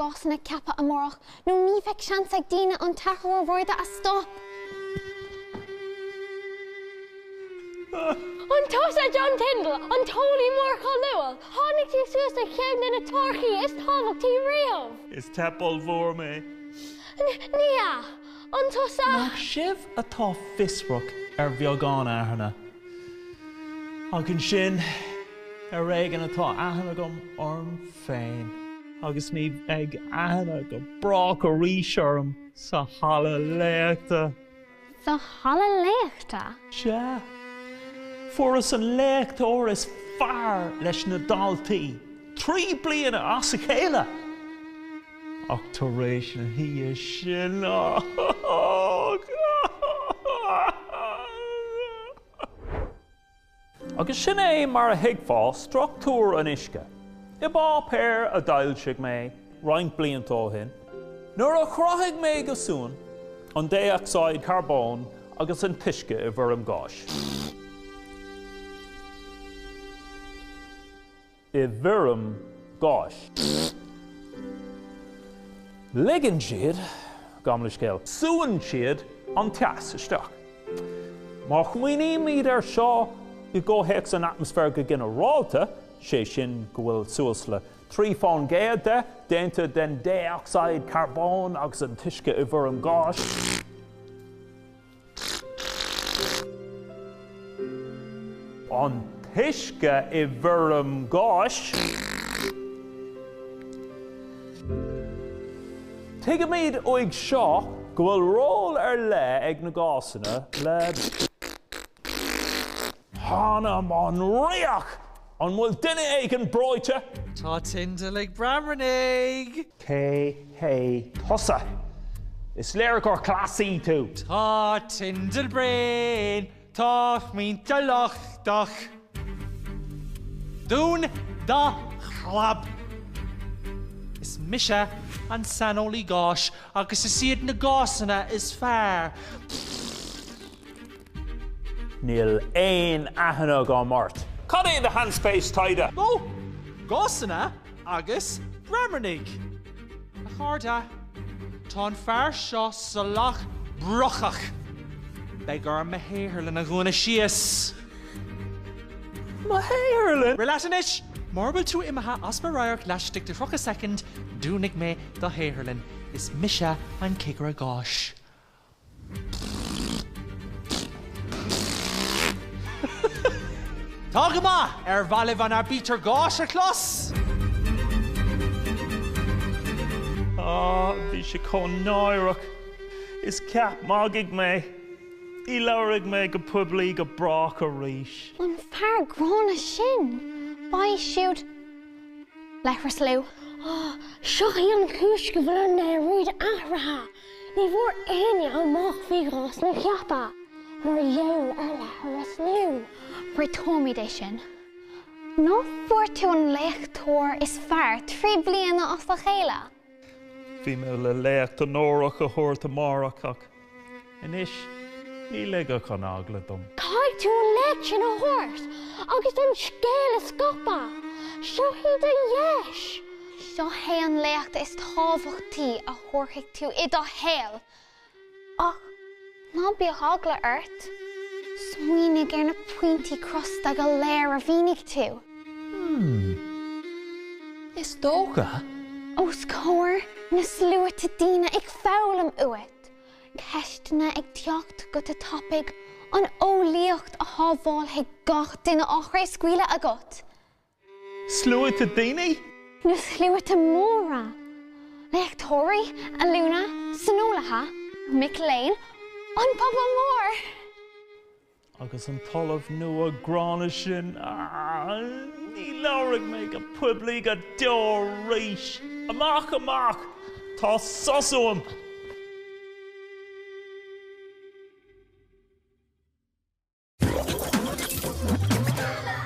Gásanna ceaptha amárach nó ní bheidh seans ag daoine an t-athrú aeráide a stop. An tusa John Tyndall, an t-eolaí mór cáiliúil a tháinig suas le ceann de na teoiricí is tábhachtaí riamh. Is teip ollmhór mé. Ní hea, an tusa. Nach sibh atá fiosrach ar bheagán aithne? Ach ansin, ar éigean atá aithne agam orm féin. agus ní bheidh aithne go brách arís orm sa halla léachta. Sa halla léachta? Sea. Fuaireas an léachtóir is fearr leis na daltaí trí bliana as a chéile ach tar éis na hoíche sin áfach. Agus sin é mar a thuigfeá struchtúr an uisce. I bpáipéar a d'fhoilsigh mé roinnt blianta ó shin, nuair a chruthaigh mé go súnn an dé-ocsaíd charbóin agus an t-uisce i bhfoirm gáis, i bhfoirm gáis. Ligeann siad gabh mo leithscéal. Súnn siad an teas isteach. Má smaoinímid air seo i gcomhthéacs an atmaisféir go ginearálta, sé sin go bhfuil suas le 3% de déanta den dé-ocsaíd carbóin agus an t-uisce i bhfoirm gáis, An t-uisce i bhfoirm gáis. Tuigimid uaidh seo go bhfuil ról ar leith ag na gásanna le. T'anam an riach! An bhfuil duine éigin breoite? Tá Tyndall ag broimnigh! Cé hé tusa? Is léir gur cleasaí tú! Tá Tyndall bréan! Tá Tyndall lochtach! Dún do chlab! Is mise an saineolaí gáis agus is iad na gásanna is fearr! Níl aon aithne agam ort! Cad é do shainspéis taighde? Nó gásanna agus broimnigh? A chairde, tá an fear seo salach brocach! Beidh orm a shaotharlann a dhúnadh síos! Mo shaotharlann? Rith leat anois! Mura bhfuil tú imithe as mo radharc laistigh de thríocha soicind, dúnfaidh mé do shaotharlann. Is mise an cigire gáis. Tá go maith arbh áil libh an aibítir gáis a chlos! Á, bhí sé chomh náireach. Is ceap magaidh mé. Ní labharfaidh mé go poiblí go brách arís. An fear gránna sin! B'é siúd le thruslú. Á, seo í an chúis go bhfuil an léaráid athraithe. Ní bhfuair éinne amach faoi ghásanna ceaptha mar gheall ar leithreas linn. Réiteoimid é sin. Ná fuair tú an léachtóir is fearr trí bliana as a chéile? Bhí mé le léacht onórach a thabhairt amárach ach anois ní ligfeadh an eagla dom. Caithfidh tú an léacht sin a thabhairt agus an scéal a scaipeadh. Seo í do dheis! Seo hé an léacht is tábhachtaí a thabharfaidh tú i do shaol! Ach ná bíodh eagla ort, smaoinigh ar na pointí crosta go léir a mhínigh tú. Hmm. Is dócha. Os comhair na sluaite daoine ag foghlaim uait, ceisteanna ag teacht go te tapaidh, an eolaíocht a shábhálfaidh gach duine á chraobhscaoileadh agat. Sluaite daoine? Nó sluaite móra? Léachtóirí, ollúna, saineolaithe, mic léinn, an pobal mór? Agus an tOllamh nua gránna sin, ní labharfaidh mé go poiblí go deo arís. Amach, amach! Tá sos uaim!